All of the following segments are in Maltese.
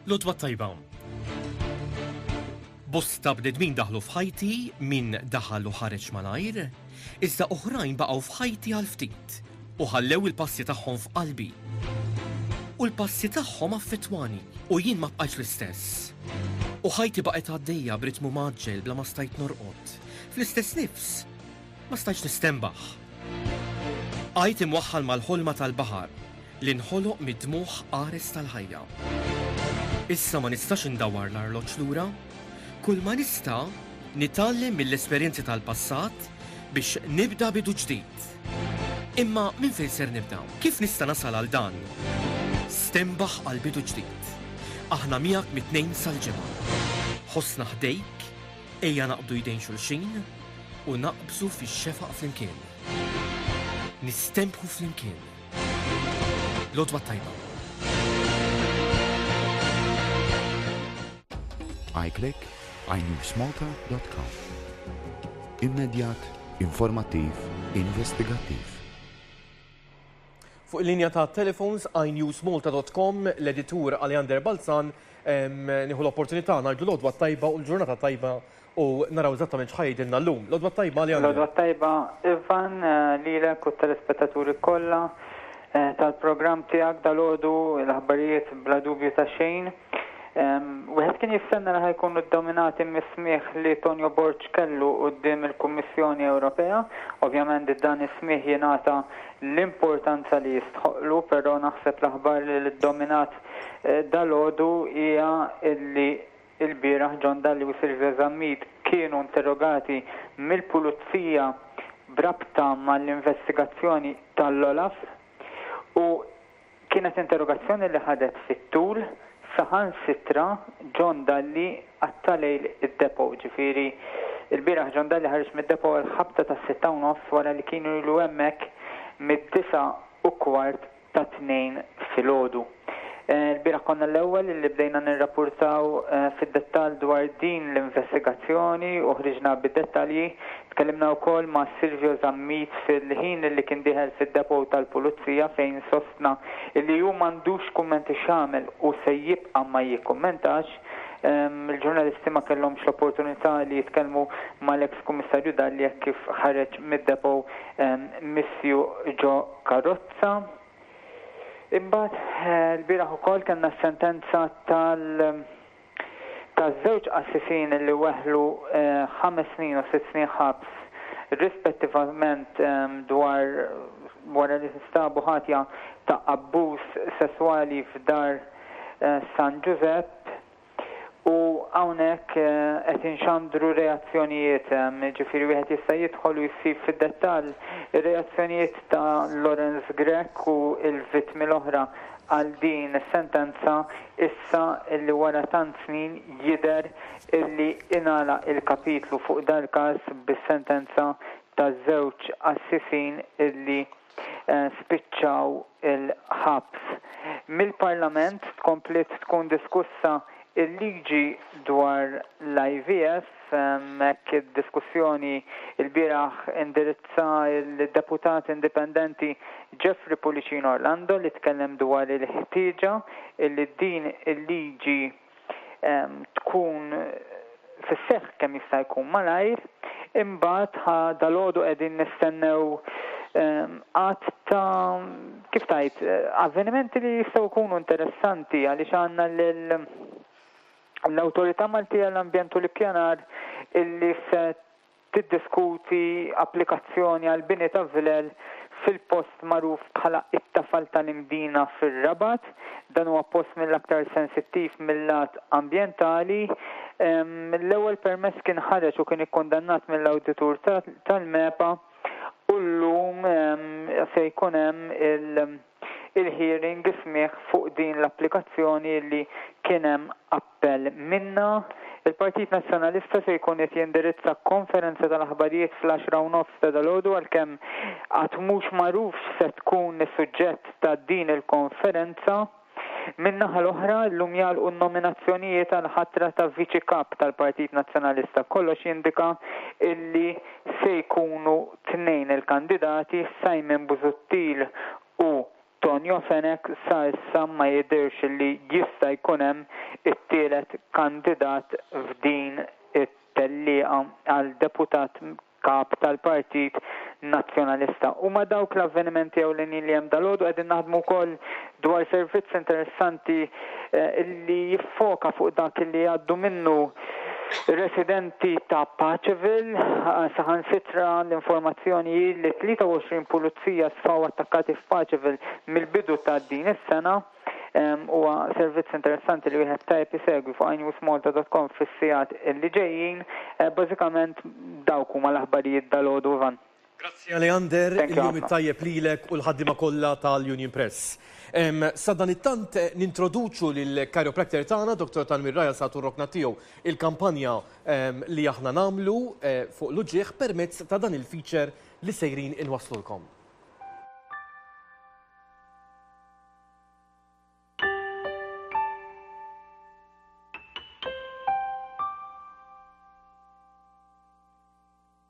Lodwa tajba. Bosta bnedmin daħlu f'ħajti minn daħal u ħareġ malajr, iżda oħrajn baqgħu f'ħajti għal ftit u ħallew il-passi tagħhom f'qalbi. U l-passi tagħhom affettwani u jien ma bqajx l-istess. U ħajti baqgħet għaddejja b'ritmu maġġel bla ma stajt norqod. Fl-istess nifs, Ma stajtx nistenbaħ. Bqajt imwaħħal mal-ħolma tal-baħar li nħoloq mid-dmugħ qares tal-ħajja. Issa ma nistax indawwar l-arloġġ lura. Kulma nista' nitgħallem mill-esperjenzi tal-passat biex nibda bidu ġdid. Imma minn fejn ser nibda? Kif nista' nasal għal dan? Stenbaħ għal bidu ġdid. Aħna miegħek mit-Tnejn sal-Ġimgħa. Ħossna ħdejk Ejja naqbdu jdejn xulxin u naqbżu fix-xefaq flimkien. Nistenbħu flimkien. L-għodwa t-tajba. iClick, iNewsMalta.com Immedjat, informattiv, investigattiv. Fuq il-linja tat-telefons għajn newsmalta dot com, l-editur Aleander Balzan, nieħu l-opportunità ngħidlu l-għodwa t-tajba u l-ġurnata t-tajba u naraw eżattament x'ħa jgħidilna llum. L-għodwa t-tajba Aleander. L-għodwa t-tajba Ivan lilek u t-telespettaturi kollha tal-programm tiegħek dalgħodu, l-aħbarijiet bla dubju ta' xejn. Wieħed kien jistenna li ħa jkunu ddominati mis-smigħ li Tonio Borg kellu quddiem il-Kummissjoni Ewropea. Ovvjament dan is-smigħ jingħata l-importanza li jistħoqqlu, però naħseb l-aħbar li ddominat dalgħodu hija li lbieraħ John Dalli u Silvia Zammit kienu interrogati mill-Pulizija b'rabta mal-investigazzjoni tal-OLAF u Kienet interrogazzjoni li ħadet fit-tul, saħansitra John Dalli qatta' lejl id-depot, ġifieri lbieraħ John Dalli ħareġ mid-depot għal ħabta tas-sitta u nofs wara li kienu ilu hemmhekk mid-disgħa u kwart ta' tnejn filgħodu. Lbieraħ konna l-ewwel li bdejna nirrapurtaw fid-dettall dwar din l-investigazzjoni u ħriġna bid-dettalji Tkellimna wkoll ma' Silvio Zammit fil-ħin li kien dieħel fid-depot tal-Pulizija fejn sostna li hu m'għandux kummenti x'jagħmel u se jibqa' ma jikkummentax. Il-ġurnalisti ma kellhomx l-opportunità li jitkellmu mal-eks Kummissarju Dalli hekk kif ħareġ mid-depot misjuq ġo karozza. Imbagħad, ilbieraħ ukoll kellna s-sentenza tal. taż-żewġ qassisin li weħlu ħames snin u sitt snin ħabs rispettivament dwar wara li nstabu ħatja ta' abbuż sesswali f'dar San Ġużepp u hawnhekk qed inxandru reazzjonijiet, jiġifieri wieħed jista' jidħol u jsib fid-dettall ir-reazzjonijiet ta' Lawrence Grech u l-vittmi l-oħra għal din is-sentenza Issa illi wara tant snin jidher illi ingħalaq il-kapitlu fuq dal-każ bis-sentenza taż-żewġ qassisin illi spiċċaw il-ħabs. Mill-Parlament tkompliet tkun diskussa l-liġi dwar l-IVF. F'hekk id-diskussjoni lbieraħ indirizza l-Deputat Indipendenti Jeffrey Pullicino Orlando li tkellem dwar il-ħtieġa li din il-liġi tkun fis-seħħ kemm jista' jkun malajr. Imbagħad ħa dalgħodu qegħdin nistennew għadd ta' kif tgħid avvenimenti li jistgħu jkunu interessanti għaliex għandna lil l-Awtorità Maltija għall-Ambjent u l-Ippjanar illi se tiddiskuti applikazzjoni għal bini ta' vilel fil-post magħruf bħala t-Tafal tal-Imdina fir-Rabat. Dan huwa post mill-aktar sensittiv mil-lat ambjentali. L-ewwel permess kien ħareġ u kien ikkundannat mill-awditur tal-MEPA u llum se jkun hemm il- il-hearing, is-smigħ fuq din l-applikazzjoni li kien hemm appell minnha, il-Partit Nazzjonalista se jkun qed jindirizza konferenza tal-aħbarijiet fl-għaxra u nofs ta' dalgħodu għalkemm għad mhux magħruf x'se tkun is-suġġett ta' din il-konferenza. Min-naħa l-oħra, llum jagħlqu n-nominazzjonijiet għall-ħatra ta' Viċi Kap tal-Partit Nazzjonalista. Kollox jindika illi se jkunu tnejn il-kandidati, Simon Busuttil u Tonio Fenech, sa issa ma jidhirx li jista' jkun hemm it-tielet kandidat f'din it-tellieqa għal Deputat Kap tal-Partit Nazzjonalista. Huma dawk l-avvenimenti ewlenin li hemm dalgħodu. Qegħdin naħdmu wkoll dwar servizz interessanti li jiffoka fuq dak li jgħaddu minnu residenti ta' Paceville. Saħansitra l-informazzjoni hi li 23 pulizija sfaw attakkati f'Paceville mill-bidu ta' din is-sena. Huwa servizz interessanti li wieħed tajjeb isegwi fuq inewsmalta.com fis-sigħat li ġejjin. Bażikament dawk huma l-aħbarijiet dalgħodu, Ivan. Grazzi Aleander, il-jum it-tajjeb lilek u l-ħaddiema kollha tal-Union Press. Sadanittant nintroduċu lill-chiropractor tagħna, Dottor Tanwir Raja sa turrokna tiegħu il-kampanja li aħna nagħmlu fuq l-uġigħ permezz ta' dan il-feature li sejrin inwasslulkom.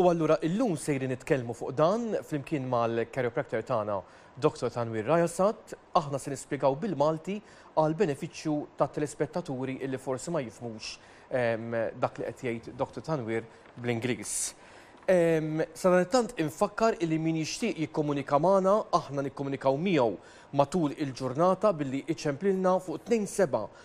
U allura illum sejrin nitkellmu fuq dan flimkien mal-chiropractor tagħna Dr. Tanwir Rajasat, aħna se nispjegaw bil-Malti għal benefiċċju tat-telespettaturi illi forsi ma jifhmux ehm, dak li qed jgħid Dr. Tanwir bl-Ingliż. Ehm, Sadanittant infakkar illi min jixtieq jikkomunika magħna aħna nikkomunikaw miegħu matul il-ġurnata billi iċemplilna fuq 27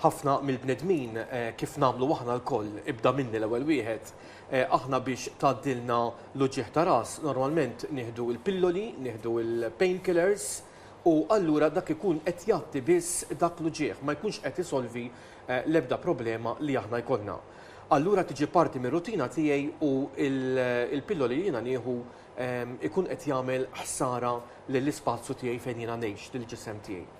Ħafna mill-bnedmin, kif nagħmlu aħna lkoll, ibda minni l-ewwel wieħed, aħna biex tgħaddilna l-uġigħ ta' ras, normalment nieħdu l-pilloli, nieħdu l-pain killers, u allura dak ikun qed jgħatti biss dak l-uġigħ, ma jkunx qed isolvi l-ebda problema li aħna jkollna. Allura tiġi parti mir-rutina tiegħi u l-pilloli li jiena nieħu ikun qed jagħmel ħsara lill-ispazju tiegħi fejn jiena ngħix, lill-ġisem tiegħi.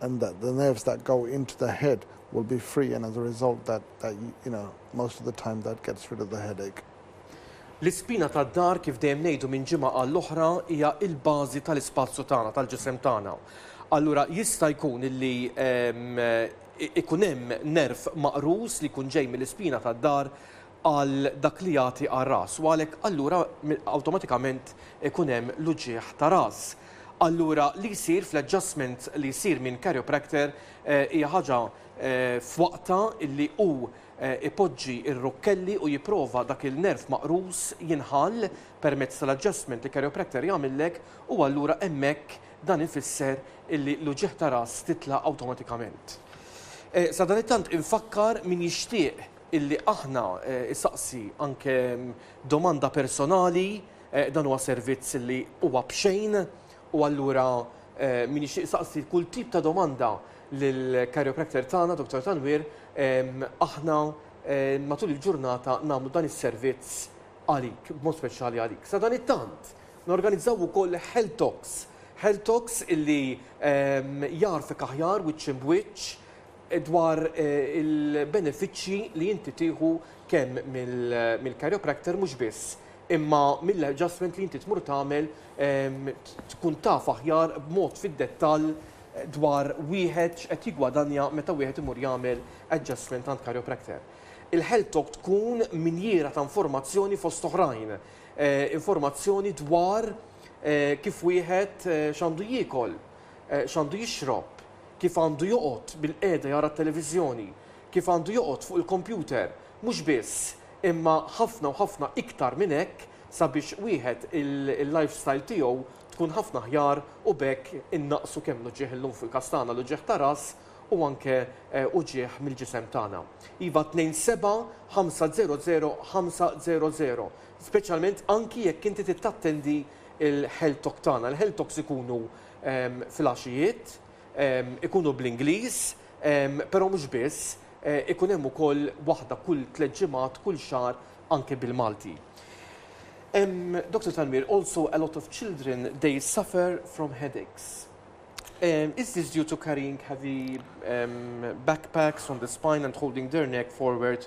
and that the nerves that go into the head will be free and as a result that that you you know most of the time that gets rid of the headache. L-ispina tad-dahr kif dejjem ngħidu minn ġimgħa għall-oħra hija l-bażi tal-ispazju tagħna, tal-ġisem tagħna. Allura jista' jkun illi ikun hemm nerv maqrus li jkun ġej mill-ispina tad-dahr għal dak li jagħti għar-ras u għalhekk allura awtomatikament ikun hemm l-uġigħ ta' ras. Allura li jsir fl-adjustment li jsir minn chiropractor hija ħaġa f'waqtha illi hu jpoġġi r-rukkelli u jipprova dak il-nerv maqrus jinħall permezz tal-adjustment li chiropractor jagħmillek u allura hemmhekk dan ifisser illi l-uġigħ ta' ras titla' awtomatikament. Sadanittant infakkar min jixtieq illi aħna, isaqsi anke domanda personali, dan huwa servizz illi huwa b'xejn u allura min jixtieq isaqsi kull tip ta' domanda lill-chiropractor tagħna Dottor Tanwir, aħna matul il-ġurnata nagħmlu dan is-servizz għalik, b'mod speċjali għalik. Sadanittant, norganizzaw ukoll health talks, health talks illi jagħrfek aħjar wiċċ imb'wiċċ dwar il-benefiċċji li inti tieħu kemm mill-chiropractor mhux biss, imma mill-adjustment li inti tmur tagħmel tkun taf aħjar b'mod fid-dettall dwar wieħed x'qed jiggwadanja meta wieħed imur jagħmel adjustment għand chiropractor. Il-HealthTalk tkun minjiera ta' informazzjoni fost oħrajn, informazzjoni dwar kif wieħed x'għandu jiekol, x'għandu jixrob, kif għandu joqgħod bilqiegħda jara t-televiżjoni, kif għandu joqgħod fuq il-kompjuter, mhux biss, imma ħafna u ħafna iktar minn hekk sabiex wieħed il-lifestyle tiegħu tkun ħafna aħjar u b'hekk innaqqsu kemm l-uġigħ illum fil-każ tagħna l-uġigħ ta' ras u anke uġigħ mill-ġisem tagħna. Iva 275005000 speċjalment anki jekk inti trid tattendi l-health talk tagħna. Il-health talks ikunu filgħaxijiet, ikunu bl-Ingliż, però mhux biss, ikun hemm ukoll waħda kull tliet ġimgħat, kull xahar anke bil-Malti. Doctor Tanwir, also a lot of children they suffer from headaches. Is this due to carrying heavy backpacks on the spine and holding their neck forward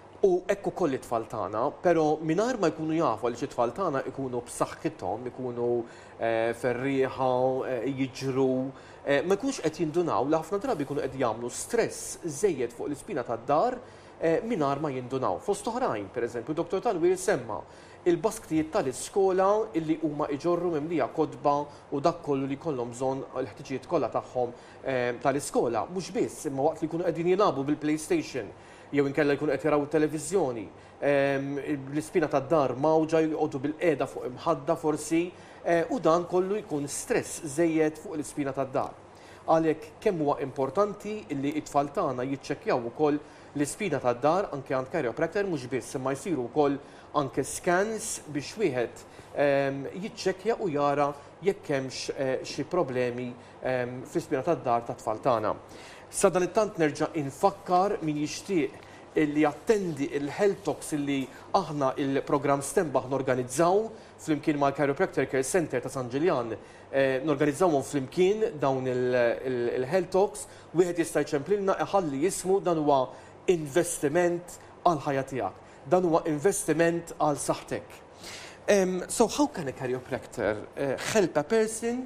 U hekk ukoll it-tfal tagħna, però mingħajr ma jkunu jafu għaliex it-tfal tagħna jkunu b'saħħithom, ikunu ferrieħa, jiġru, ma jkunux qed jindunaw li ħafna drabi jkunu qed jagħmlu stress żejjed fuq l-ispina tad-dar mingħajr ma jindunaw. Fost oħrajn, pereżempju, Dottor Tanwir semma l-basktijiet tal-iskola li huma iġorru mimlija kotba u dak kollu li jkollhom bżonn l-ħtiġijiet kollha tagħhom tal-iskola. Mhux biss, imma waqt li jkunu qegħdin jilagħbu bil-PlayStation, jew inkella jkunu qed jaraw it-televiżjoni, l-ispina tad-dar mgħawġa, joqogħdu bilqiegħda fuq imħadda forsi, u dan kollu jkun stress żejjed fuq l-ispina tad-dar. Għalhekk kemm huwa importanti li t-tfal tagħna jiċċekkjaw ukoll l-ispina tad-dar anke għand chiropractor mhux biss imma jsiru wkoll anke scans biex wieħed jiċċekkja u jara jekk hemmx xi problemi fl-ispjera tad-dar tat-tfal tagħna. Sadanittant nerġa' infakkar min jixtieq li jattendi l-health talks li aħna il-programm Stenbaħ norganizzaw flimkien mal-Chiropractor Care Centre ta' San Ġiljan. Norganizzawhom flimkien dawn il-health talks, wieħed jista' jċemplilna iħalli ismu dan huwa investiment għall-ħajja tiegħek. Dan huwa investiment għal saħħtek. So how can a chiropractor help a person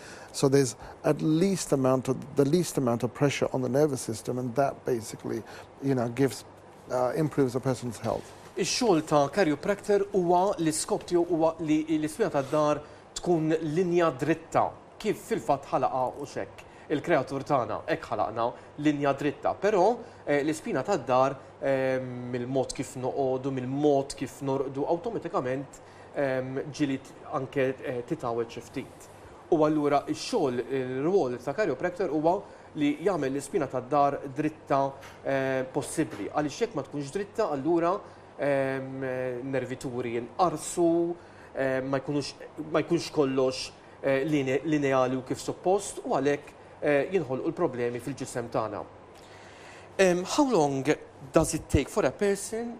So there's at least amount of the least amount of pressure on the nervous system and that basically you know gives uh, improves a person's health. Ix-xogħol ta' chiropractor huwa li skop tiegħu huwa li l-ispina tad-dar tkun linja dritta kif fil-fatt ħalaqa u xekk il-kreatur tagħna hekk ħalaqna linja dritta, però eh, l-ispina tad-dar eh, mill-mod kif noqogħdu, mill-mod kif norqdu awtomatikament ġieli anke titgħawwed xi ftit. U allura x-xogħol, ir-rwol ta' chiropractor huwa li jagħmel l-ispina tad-dahar dritta possibbli. Għaliex jekk ma tkunx dritta allura n-nervituri jinqarsu, ma jkunux ma jkunx kollox lineali u kif suppost u għalhekk jinħolqu l-problemi fil-ġisem tagħna. How long does it take for a person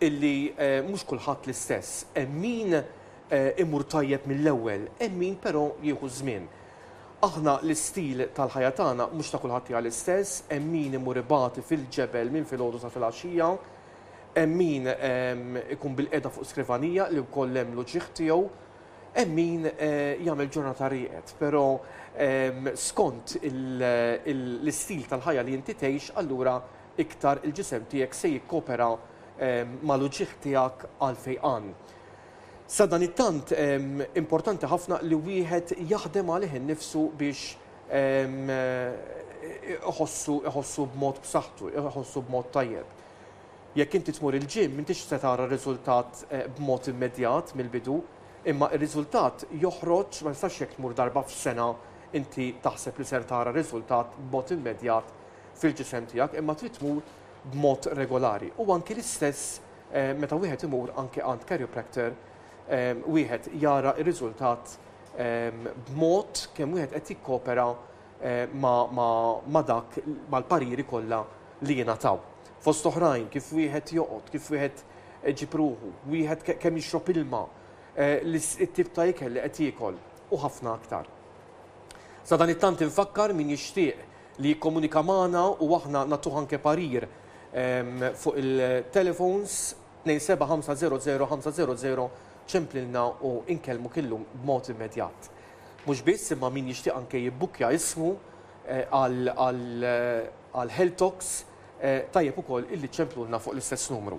illi mhux kulħadd l-istess. Hemm min imur tajjeb mill-ewwel, hemm min però jieħu ż-żmien. Aħna l-istil tal-ħajja tagħna mhux ta' kulħadd hija l-istess, hemm min imur ibati fil-ġebel minn filgħodu sa filgħaxija, hemm min ikun bilqiegħda fuq skrivanija li wkoll hemm l-uġigħ tiegħu, hemm min jagħmel ġurnata rieqed. Però skont l-istil tal-ħajja li inti tgħix allura iktar il-ġisem tiegħek se jikkopera mal-uġigħ tiegħek għall-fejqan. Sadanittant, importanti ħafna li wieħed jaħdem għalih innifsu biex iħossu b'mod b'saħħtu, iħossu b'mod tajjeb. Jekk inti tmur il-gym, m'intix se tara r-riżultat b'mod immedjat mill-bidu, imma r-riżultat joħroġ, ma nistax jekk tmur darba f'sena inti taħseb li ser tara riżultat b'mod immedjat fil-ġisem tiegħek imma trid tmur b'mod regolari u anki l-istess meta wieħed imur anki għand chiropractor wieħed jara r-riżultat b'mod kemm wieħed qed jikkopera ma' dak mal-pariri kollha li jingħataw. Fost oħrajn kif wieħed joqgħod, kif wieħed ġib ruħu, wieħed kemm jixrob ilma, it-tip ta' ikel li qed jiekol u ħafna aktar. Sadanittant infakkar min jixtieq li jikkomunika magħna u aħna nagħtuh anke parir fuq il-telefons 275005000 ċemplilna u nkellmuk illum b'mod immedjat. Mhux biss imma min jixtieq anke jibbukkja ismu għal Health Talks tajjeb ukoll illi ċċemplulna fuq l-istess numru.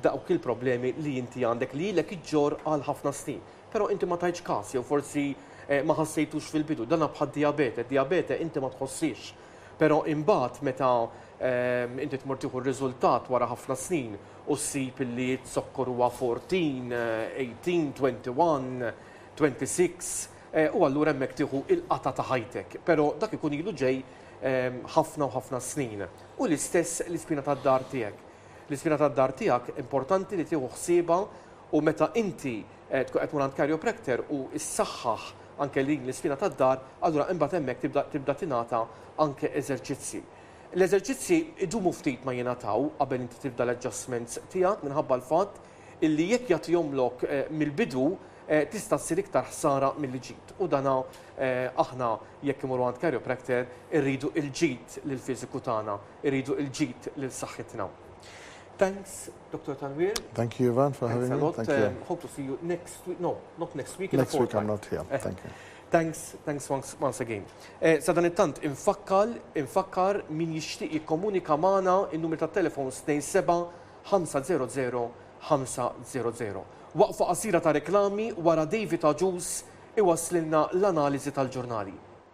dawk il-problemi li inti għandek li ilek iġġorr għal ħafna snin. Però inti ma tajtx każ jew forsi eh, ma ħassejtux fil-bidu. Dana bħad-dijabete, dijabete inti ma tħossix. Però imbagħad meta ehm, inti tmur tieħu r-riżultat wara ħafna snin u ssib li t-zokkor huwa 14, 18, 21, 26, eh, u allura hemmhekk tieħu il-qata ta' ħajtek. Però dak ikun ilu ġej ehm, ħafna u ħafna snin. U l-istess l-ispina tad-dar tiegħek. L-ispina tad-dahr tiegħek importanti li tieħu ħsiebha u meta inti tkun qed tmur għand chiropractor u ssaħħaħ anke din l-ispina tad-dahr, allura imbagħad hemmhekk tibda tibda tingħata anke eżerċizzji. L-eżerċizzji jdumu ftit ma jingħataw qabel inti tibda l-adjustments tiegħek minħabba l-fatt illi jekk jagħtihomlok mill-bidu tista' ssir iktar ħsara milli ġid u dan aħna jekk imorru għand chiropractor irridu l-ġid lill-fiżiku tagħna. Irridu il-ġid lil saħħitna. Thanks Doctor Tanwir. Thank you Ivan for having me. Thanks a lot. Hope to see you next week. No, not next week. Next week I'm not here. Thank you. Thanks, thanks once, once again. Eh, Sadan it-tant, infakkal, infakkar min jixtieq jikkomunika magħna in-numri ta' telefon 27-500-500. Waqfa qasira ta' reklami wara David Aġus iwaslilna l-analiżi tal-ġurnali.